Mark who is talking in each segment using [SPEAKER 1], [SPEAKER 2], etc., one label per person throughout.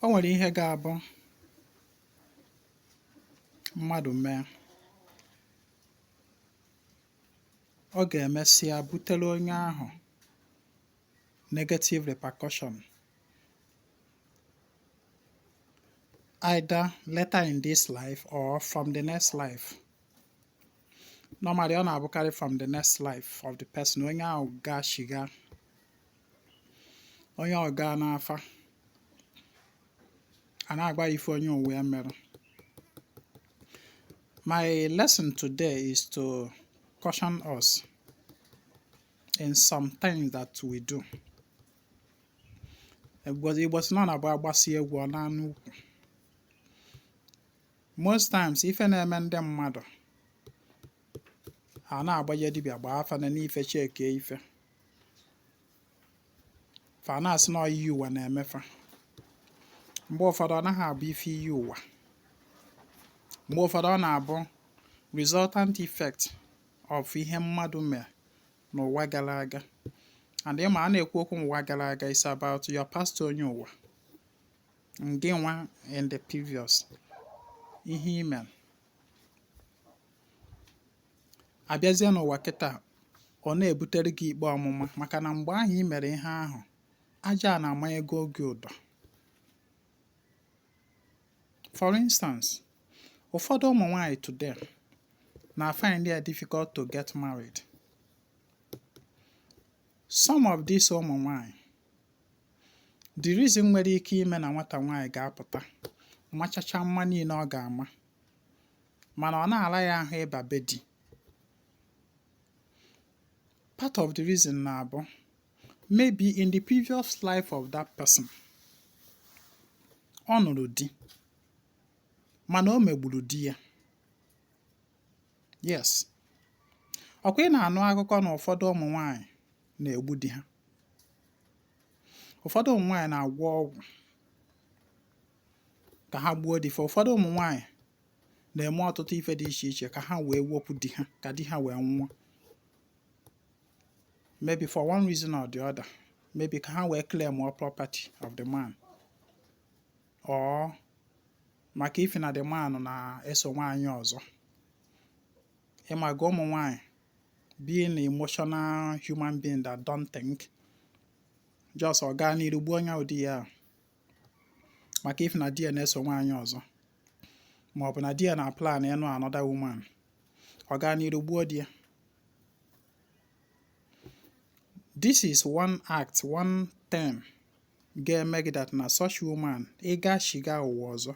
[SPEAKER 1] O nwere ihe ga-abụ mmadụ mee, ọ ga-emesịa butere onye ahụ negative repercussion. either later in this life or from the next life. Normally, ọ na-abụkarị from the next life of the person onye ahụ gaa shiga onye ahụ gaa n'afa a na-agba ife onye ụwa ya mere my lesson today is to caution us in some things that we do igbo sị na ọ na-abụ a gbasịa egwu ọ naa n'ukwu most times ife na-eme ndị mmadụ a na-agbaje dibịa gbaa afa nene ife checkie ife fa na-asị na iyi ụwa na-eme fa mgbe ụfọdụ ọ naghị abụ ife iyi ụwa mgbe ụfọdụ ọ na-abụ resultant effect of ihe mmadụ mere n'ụwa gara aga and ị ma a na-ekwu okwu ụwa gara aga is about your past onye ụwa ngị nwa in the previous ihe i me a bịazie n'ụwa kịta ọ na-ebutere gị ikpe ọmụma maka na mgbe ahụ i mere ihe ahụ aja ana amanyego gị ụdọ for instance ụfọdụ ụmụ nwanyị today na find it difficult to get married some of these ụmụ nwanyị the reason nwere ike ime na nwata nwanyị ga-apụta machacha mma niile ọ ga-ama mana ọ na-ala ya ahụ ịba be di part of the reason na-abụ maybe in the previous life of that person ọ nụrụ di mana o megburu di ya yes ọkwa ị na-anụ akụkọ na ụfọdụ ụmụ nwanyị na-egbu di ha ụfọdụ ụmụ nwanyị na-agwọ ọgwụ ka ha gbuo di fa ụfọdụ ụmụ nwanyị na-eme ọtụtụ ife dị iche iche ka ha wee wepụ di ha ka di ha wee nwụọ maybe for one reason or the other maybe ka ha wee claim all property of the man or maka ife na the man na-eso nwaanyị ọzọ ị maga ụmụ nwaanyị being an emotional human being that don't think just ọ gaa n'iru gbuo onye bụ di ya maka ife na di ya na-eso nwaanyị ọzọ ma ọ bụ na di ya na-plan ịnụ another woman ọ gaa n'iru gbuo di ya this is one act one thing ga-eme gị that na such woman ịga shiga ụwa ọzọ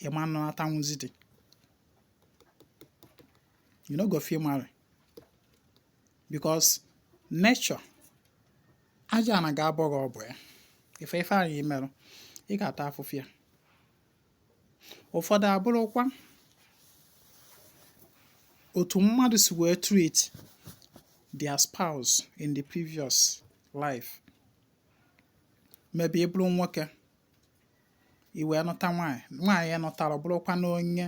[SPEAKER 1] ịma nọnatanwụzi dị you no go fit marry because nature Aja ana ga-abọ gị ọbọ ya. Ife ife ahụ i merụ, ị ga-ata afụfụ ya. Ụfọdụ abụrụkwa otu mmadụ si wee treat their spouse in the previous life. Maybe ị bụrụ nwoke, i wee nụta nwaanyị, nwaanyị a ị nụtara bụrụkwa na onye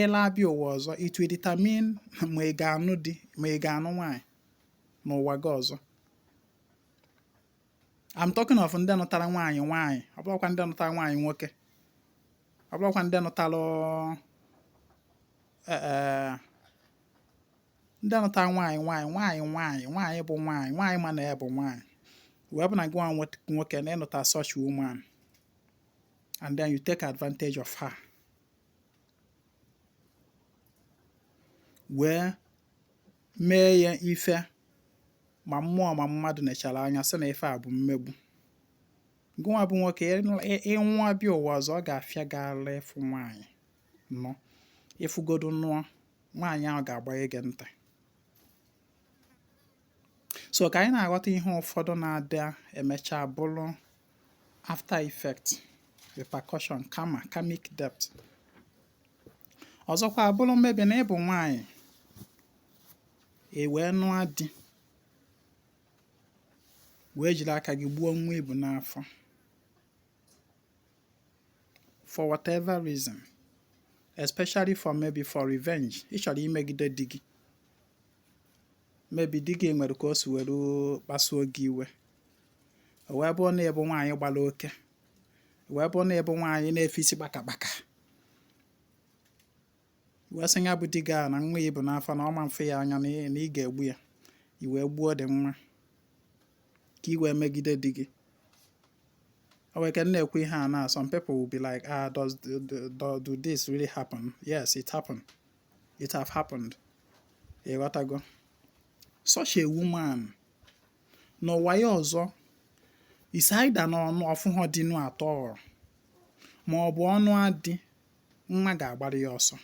[SPEAKER 1] ịla abịa ụwa ọzọ it will determine ma ị ga-anụ di ma ị ga-anụ nwaanyị n'ụwa gị ọzọ I'm talking of ndị nụtara nwaanyị nwaanyị ọ bụrọkwa ndị nụtara nwaanyị nwoke ọ bụrọkwa ndị nụtara eh, eh, ndị nụtara nwaanyị nwaanyị nwaanyị nwaanyị nwaanyị bụ nwaanyị nwaanyị ma na ya bụ nwaanyị wee bụ na gị nwa nwoke na ị nụta such woman and then you take advantage of her wee mee ya ife ma mmụọ ma mmadụ nechara anya sị na ife a bụ mmegbu gụnwa bụ nwoke ịnwa bịa ụwa ọzọ ọ ga-afịa gị arụ ịfụ nwaanyị nụọ ị fụgodu nụọ nwaanyị ahụ ga-agbanye gị ntị so ka anyị na-aghọta ihe ụfọdụ na-adị emecha bụrụ after effect repercussion karma karmic debt ọzọkwa abụrụ maybe na ị bụ nwaanyị i wee nụọ di wee jiri aka gị gbuo nwa i bu n'afọ for whatever reason especially for maybe for revenge ị chọrọ imegide di gị maybe di gị nwere ka o si were kpasuo gị iwe o wee bụrụ na ị bụ nwaanyị gbara oke wee bụrụ na ị bụ nwaanyị na-efe isi kpakakpaka wee sị ya bụ di gị a na nwa ya bu n'afọ na ọ ma-afụ ya anya na ị ga-egbu ya i wee gbuo the nwa ka i wee megide di gị o nwere ike m na-ekwu ihe a na some people will be like ah does do this really happen yes it happened it have happened ịghọtago such a woman n'ụwa ya ọzọ is either na ọ nụ ọ fụhọ di nụ at all ma ọ bụ ọ nụa di nwa ga-agbara ya ọsọ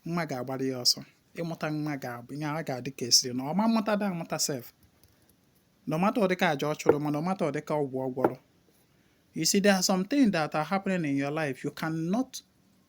[SPEAKER 1] nwa ga-agbara ya ọsọ ịmụta nwa ga-abụ ihe a ga-adị ka a sịrị na ọ ma mmụta da amụta sef no matter ụdịka aja ọ chụrụ ma no matter ụdịka ọgwụ ọ gwọrọ you see there are some things that are happening in your life you cannot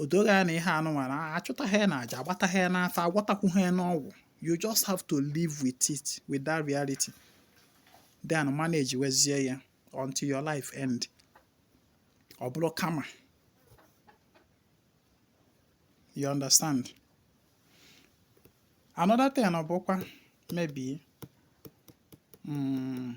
[SPEAKER 1] o doo gị anya na ihe anụnwa na a chụtaghị ya n'aja a gbataghị ya n'afa a gwọtakwughị ya n'ọgwụ you just have to live with it with that reality then manage wezie ya until your life end ọ bụrụ karma you understand another thing ọ bụkwa maybe mm,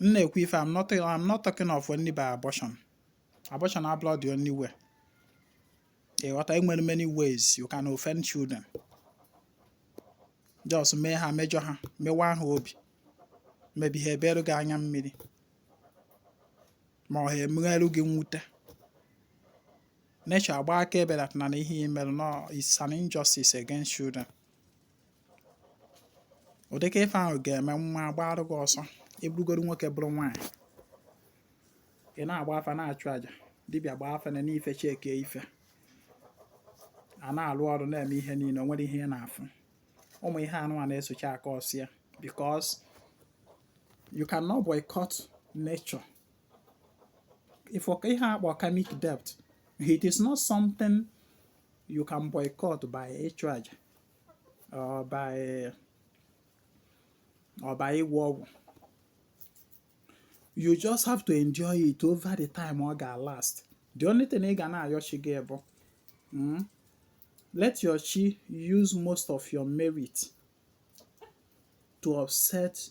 [SPEAKER 1] m na-ekwu ife I'm not I'm not talking of only by abortion abortion abụrọ the only way ịghọta e nwere many ways you can offend children just mee ha mejọ ha mewa ha obi maybe ha eberụ gị anya mmiri ma ọ ha emegherụ gị mwute nature agba akaebe that na ihe i merụ nụ is an injustice against children ụdịka ife ahụ ga-eme nwa agbaarụ gị ọsọ ị bụrụgoro nwoke bụrụ nwaanyị ị na-agba afa na-achụ aja dibịa gbaa afa na n'ife checkie ife a na-alụ ọrụ na-eme ihe niile o nwerọ ihe ị na-afụ ụmụ ihe anụ a na-esochi aka ọsịa because you cannot boycott nature if ihe a kpọ karmic debt it is not something you can boycott by ịchụ aja or by eh, or by ịgwọ ọgwụ you just have to endure it over the time ọ ga last the only thing ị ga na-ayọ chi gị bụ hmm, let your chi use most of your merit to offset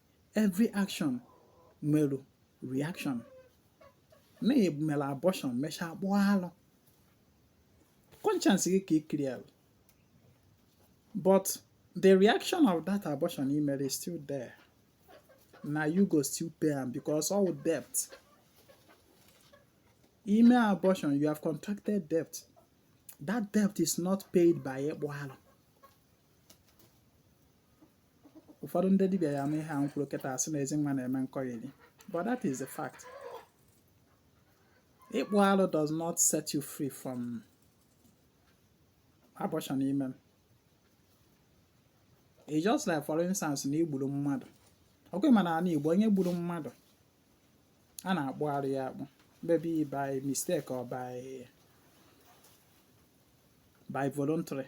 [SPEAKER 1] every action nwere reaction na i mere abortion mechaa kpụọ alụ conscience gị ka i clearalụ but the reaction of that abortion i mere is still there na you go still pay am because ọ debt i mee abortion you have contracted debt that debt is not paid by ịkpụ alụ ụfọdụ ndị dibịa ya ama ihe a m kwuru kịta asị na ezi nwa na-eme nkọgheri but that is the fact ịkpụ alụ does not set you free from abortion ime it's just like for instance na i gburu mmadụ ọ kwa ị ma na ala igbo onye gburu mmadụ a na-akpụ arụ ya akpụ maybe by mistake or by by voluntary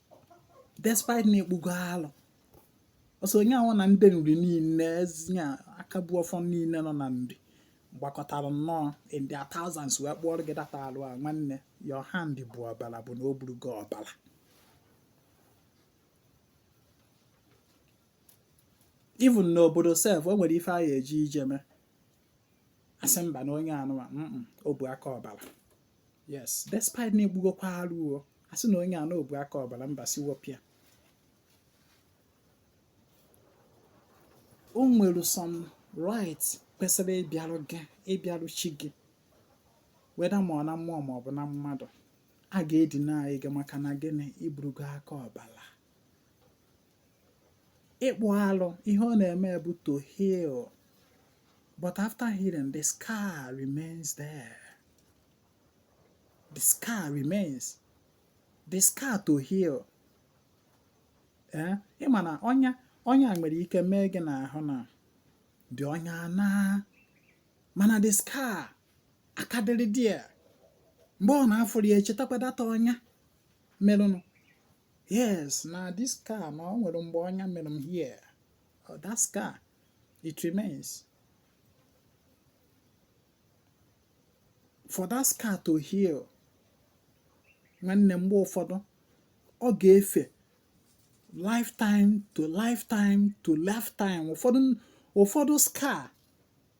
[SPEAKER 1] despite na a kpụgo alụ ọsọ onye ahụ na ndị nri niile nya aka bu ọfọ niile nọ na nri gbakọtara nnọọ in their thousands wee kpụọrọ gị that alụ a nwanne your hand bu ọbara bụ na o burugo ọbara even n'obodo sef o nwere ife a ga-eji je mee a sị mba na onye anụwa o bu aka ọbara yes despite na a kpụgokwa arụ o a sị na onye a na o bu aka ọbara mba si wọpịa o nwere some rights kwesịrị ịbịarụ gị ịbịarụ chi gị whether ma ọ na mmụọ ma ọ bụ na mmadụ a ga-edeny gị maka na gịnị i burugo aka ọbara ịkpụ alụ ihe ọ na-eme bụ to heal but after healing the scar remains there the scar remains the scar to heal eh? ị ma na ọnya ọnya nwere ike mee gị n'ahụ na the ọnya anaa mana the scar aka dịrị there mgbe ọ na-afụrụ ya echetakwa that ọnya merụnụ yes na this scar na o nwere mgbe ọnya mere m here oh, that scar it remains for that scar to heal nwanne mgbe ụfọdụ ọ ga-efe lifetime to lifetime to lifetime ụfọdụ ụfọdụ scar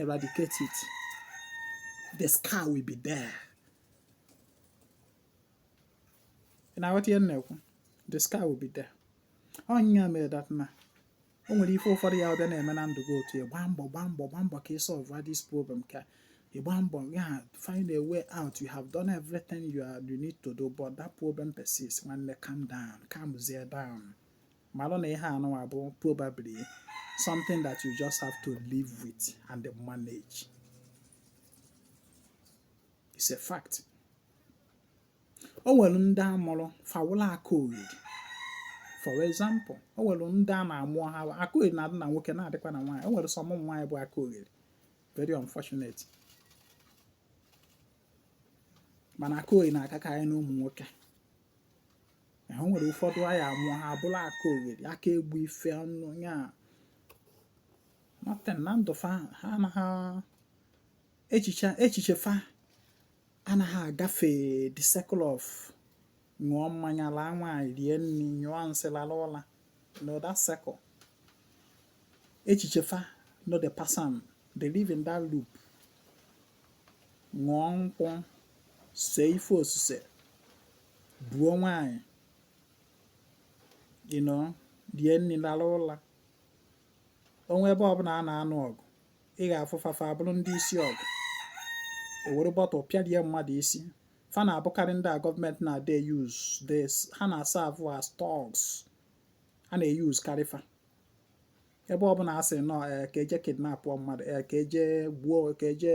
[SPEAKER 1] eradicate it the scar will be there ị na-aghọta ihe m na-ekwu the scar will be there ọ nya mere that na o nwere ife ụfọdụ ya-abịa na-eme na ndụ gị otu ya gbaa mbọ gbaa mbọ gbaa mbọ ka ị solve this problem ka ị gbaa mbọ ya find a way out you have done everything you, are, you need to do but that problem persists nwanne calm down calmzie down malụ na ihe anụnwa bụ probably something that you just have to live with and manage it's a fact o nwere ndị a mụrụ fa wụlụ aka oriri for example o nwere ndị a na-amụ ha aka oriri na-adị na nwoke na-adịkwa na nwaanyị o nwere some ụmụ nwaanyị bụ aka oriri very unfortunate mana aka oriri na-akakarị n'ụmụ nwoke o nwere ụfọdụ anyị amụọ ha abụla aka oghere aka egbu ife ọnụ ya nothing na ndụ fa ha anaghị echiche echiche fa anaghị agafe the circle of ṅụọ mmanya laa nwaanyị rie nri nyụọ nsị lala ụla no that circle echiche fa nọ the person they live in that loop ṅụọ nkwụ see ife osise buo nwaanyị you know rie nri lala ụla o nwee ebe ọbụla a na-anụ ọgụ ị ga-afụ fa fa abụrụ ndị isi ọgụ e were bottle pịarie mmadụ isi fa na-abụkarị ndị a gọọmenti na-adị use this ha na-aserve as thugs a na-eyuzkarị fa ebe ọbụla a sị nọ eh, ka e je kidnapụọ mmadụ eh, ka e je gbuo ka e je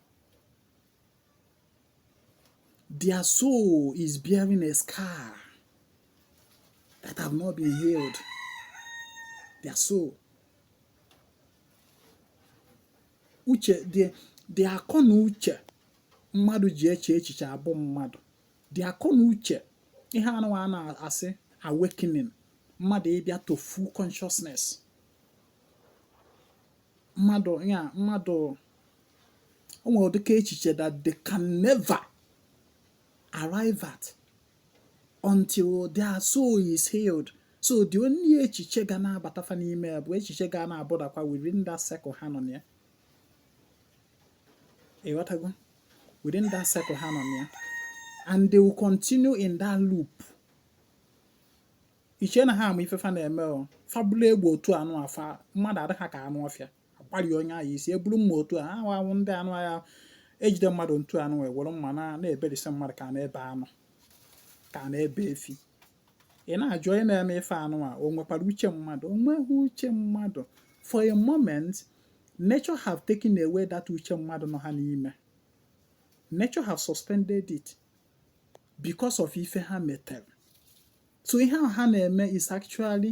[SPEAKER 1] Their soul is bearing a scar that have not been healed. Their soul. Uche, the, the akọ na uche mmadụ ji eche echiche abụ mmadụ. The akọ na uche ihe anụ a na-asị awakening mmadụ ịbịa to full consciousness. Mmadụ ya mmadụ o nwere ụdịka echiche that they can never arrive at until their soul is healed so the only echiche ga na-abata fa n'ime ya bụ echiche ga na-abụdakwa within that circle ha nọ na ya ịghọtago within that circle ha nọ na ya and they will continue in that loop i che na ha ma ife fa na-eme o fa bula egbe otu anụ afụ mmadụ adị ha ka anụ ọfịa agbari onye ahụ isi eburu mma otu a ahụ ahụ ndị anụ a ga-ejide mmadụ otu anụ wee were mma na na-eberi isi mmadụ ka a na-ebe anụ ka a na-ebe efi ị na-ajụ onye na-eme ife anụ a o nwekwara uche mmadụ o nweghị uche mmadụ for a moment nature have taken away that uche mmadụ nọ ha n'ime nature have suspended it because of ife ha metere so ihe ahụ ha na-eme is actually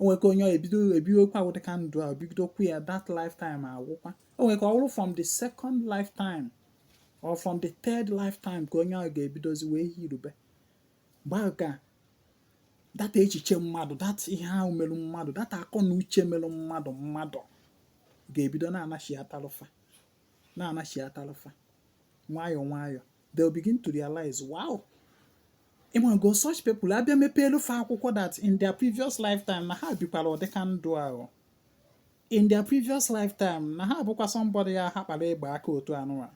[SPEAKER 1] o nwere ike onye ahụ ebido ebiwekwa ụdị ka ndụ a bidokwa ya that lifetime agwụkwa o nwere ike ọ bụrụ from the second lifetime or from the third lifetime ka onye ahụ ga-ebidozi wee healụbe mgbe ahụ ka that echiche mmadụ that ihe ahụ merụ mmadụ that akọ na uche merụ mmadụ mmadụ ga-ebido na-anachiatalụ fa na-anachiatalụ fa nwayọọ nwayọọ they'll begin to realize wow ị mago such people abịa mepeelu fa akwụkwọ that in their previous lifetime na ha bikwara ụdịka ndụ ahụ in their previous lifetime na ha bụkwa somebody ya ha kpara egbe aka otu anụwa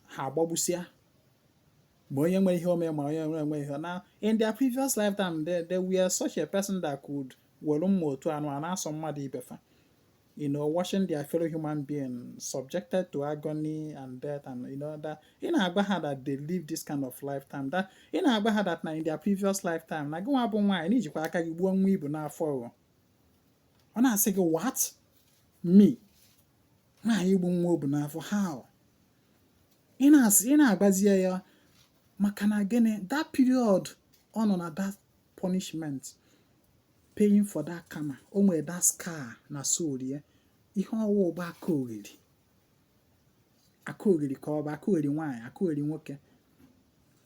[SPEAKER 1] ha agbagbusia ma onye nwere ihe o mere ma onye nwere ihe na in their previous lifetime they, they were such a person that could were mma otu anụ a na-asọ mmadụ ibe fa you know, watching their fellow human being subjected to agony and death, and you know that ị na-agwa ha that they live this kind of lifetime. That ị na-agwa ha that na in their previous lifetime, na gịnwa bụ nwaanyị na i jikwa aka gị gbuo nwa i bu n'afọ ọ na-asị gị what me nwaanyị igbu nwa o bu n'afọ how ị na-asị ị na-agwazi ya maka na gịnị that period ọ nọ na that punishment paying for that karma o nwere that scar na soul ya ihe ọ wụ bụ aka ogheri aka ogheri ka ọ bụ aka ogheri nwaanyị aka ogheri nwoke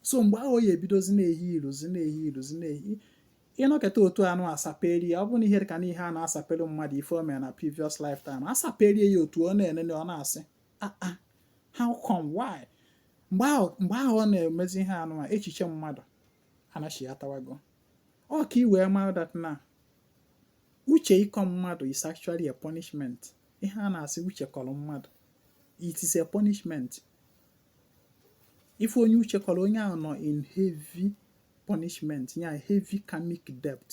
[SPEAKER 1] so mgbe ahụ ya ebidozi na-ehealuzi na-ehealuzi na-eheal ị nọketa otu anụ asapere ya ọ bụ na ihe ka na ihe a na-asapelu mmadụ ife o mere na previous lifetime asapere ya otu ọ na-enene ọ na-asị ah, ah, how come why mgbe ahụ ọ na-emezi ihe anụ echiche mmadụ anachiatawago ọ ka i wee mara that na uche ịkọ mmadụ is actually a punishment ihe a na-asị uche kọrọ mmadụ it is a punishment ị fụ onye uche kọrọ onye ahụ nọ in heavy punishment ya heavy karmic debt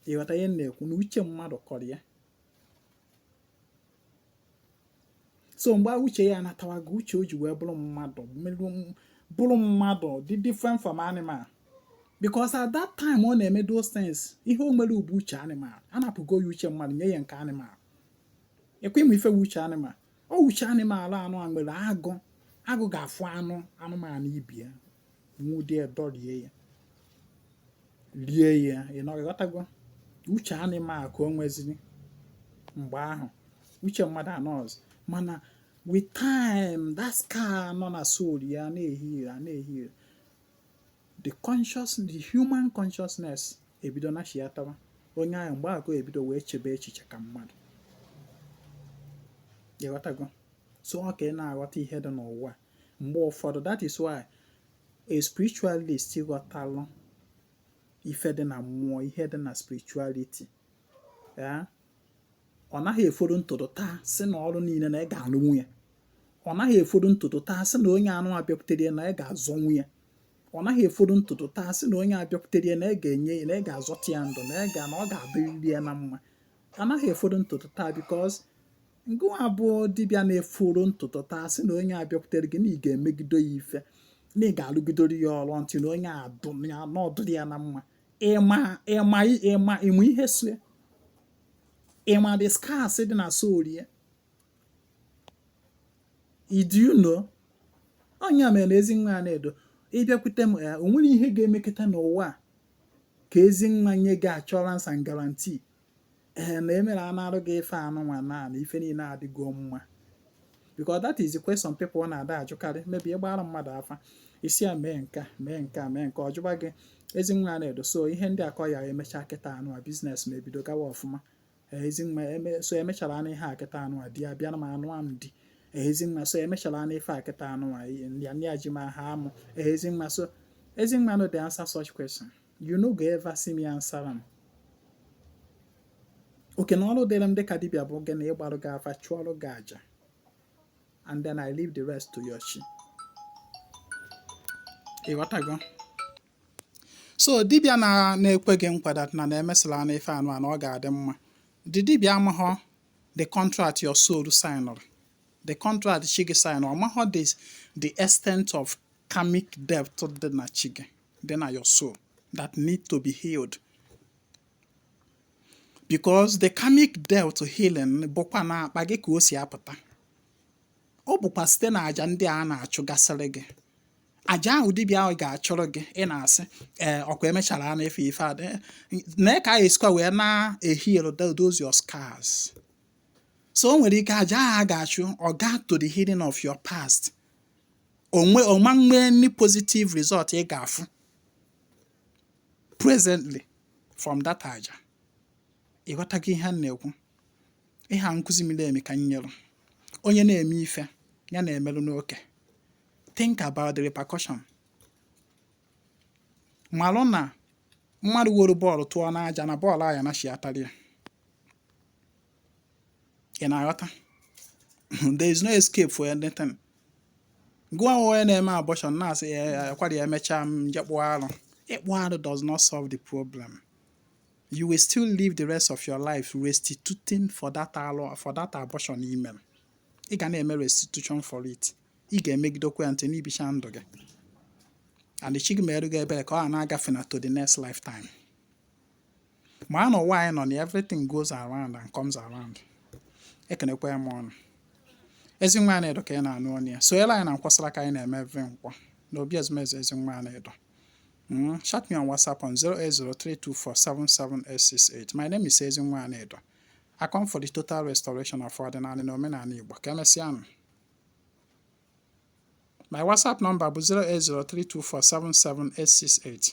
[SPEAKER 1] ị ghọta ihe na-ekwu na uche mmadụ kọrọ ya so mgbe uche ya anatawago uche o ji wee bụrụ mmadụ bụrụ mmadụ dị different from animal because at that time ọ na-eme those things ihe o nwere bụ uche animal anapụgo ya uche mmadụ nye ya nke animal ekwe ịmụ ife uche animal ọ uche animal anụ a nwere agụ agụ ga-afụ anụ anụmanụ ibe ya nwụde ya dọrie ya rie ya ị nọ ị ghọtago uche animal ka o nweziri mgbe ahụ uche mmadụ anọzi mana with time that scar nọ na soul ya na-eheal na-eheal the conscious the human consciousness ebido nachiatawa onye ahụ mgbe ahụ ebido wee chebe echiche ka mmadụ ị ghọtago so ọ ka ị na-aghọta ihe dị n'ụwa a mgbe ụfọdụ that is why a spiritualist ghọtalụ ife dị na mmụọ ihe dị na spirituality ya ọ naghị eforo ụtụtụ taa sị na ọrụ niile na ị ga-alụnwu ya ọ naghị eforo ụtụtụ taa sị na onye anụa bịakwutere ya na ị ga-azọnwu ya ọ naghị eforo ụtụtụ taa sị na onye a bịakwutere ya na ị ga-enye ya na ị ga-azọta ya ndụ na ị ga na ọ ga-adịrịrị ya na mma anaghị eforo ụtụtụ taa because ngịnwa bụ dibịa na-efuru ntụtụ taa sị na onye bịakwutere gị na ị ga-emegide ya ife na ị ga-alụgidere ya ọrụ until na onye adụm ya na ọ dịrị ya na mma ịma ịma ịma ịma ihe so ya ịma the scars dị na soul ya do you know ọ nya mere Ezenwanyị na-edo ị bịakwute m ya eh, o nwerọ ihe ga-emekata n'ụwa ka Ezenwanyị nye gị assurance and guarantee ee na emere anarụ gị ife anụnwa na na ife niile adịgo mma because that is the question people na-adị ajụkarị maybe ị gbara mmadụ afa ị sị ya mee nke a mee nke a mee nke a ọ jụba gị Ezenwanyị na-edo so ihe ndị akọ ya emechaa kịta anụ a business m ebido gawa ọfụma Ezenwanyị so emechara anụ ihe a kịta anụ a di ya bịa na m anụ a m di Ezenwanyị so emechara anụ ife a kịta anụ a ya ndị a ji ma ha amụ Ezenwanyị so Ezenwanyị no dey answer such question you no go ever see me answer am oke na ọrụ dịrị m dịka dibịa bụ gịnị ịgbarụ gị afa chụọrụ gị aja and then I leave the rest to your chi ị ghọtago so dibịa na-ekwe gị nkwa na na emesịa na ife anụwa na ọ ga-adị mma the dibịa amaghọ the contract your soul signụrụ the contract chi gị signụrụ amaghọ the extent of karmic debt dị na chi gị dị na your soul that need to be healed because the karmic debt healing bụkwa n'akpa gị ka o si apụta ọ bụkwa site na aja ndị a na-achụgasịrị gị aja ahụ dibịa ahụ ga-achụrụ gị ị na-asị ee eh, ọ kwa emechara na efe ife adị eh, na ka anyị esikwa wee na-eheal those your scars so o nwere ike aja ahụ a ga-achụ ọ gaa to the healing of your past ọ ma nwee any positive result ị ga-afụ presently from that aja ị ghọtago ihe a na-ekwu ihe a nkụzi miri emi ka nyere onye na-eme ife ya na-emeru n'oke think about the repercussion malụ na mmadụ were bọọlụ tụọ n'aja na bọọlụ a ya anachiatara ya ị na-aghọta there is no escape for anything gwa onye na-eme abortion na-asị ya ọ kwara ya emechaa m jee kpụọ arụ ịkpụ arụ does not solve the problem you will still live the rest of your life restituting for that arụ for that abortion i mere ị ga na-eme restitution for it ị ga-emegidekwa ya until na i bichaa ndụ gị and if chi gị mere gị ebere ka ọ na-agafe na to the next lifetime ma na ụwa anyị nọ na everything goes around and comes around ekenekwaa m ụnụ Ezinwa Anaedo ka ị na-anụ onu ya sonyelu anyị na Nkwọ saraka anyị na-eme every Nkwọ na obi ezumezu Ezinwa Anaedo hmm, chat me on whatsapp on 08032477868 my name is Ezinwa Anaedo I come for the total restoration of ọdịnala na omenala Igbo ka emesịanụ my whatsapp number bụ 08032477868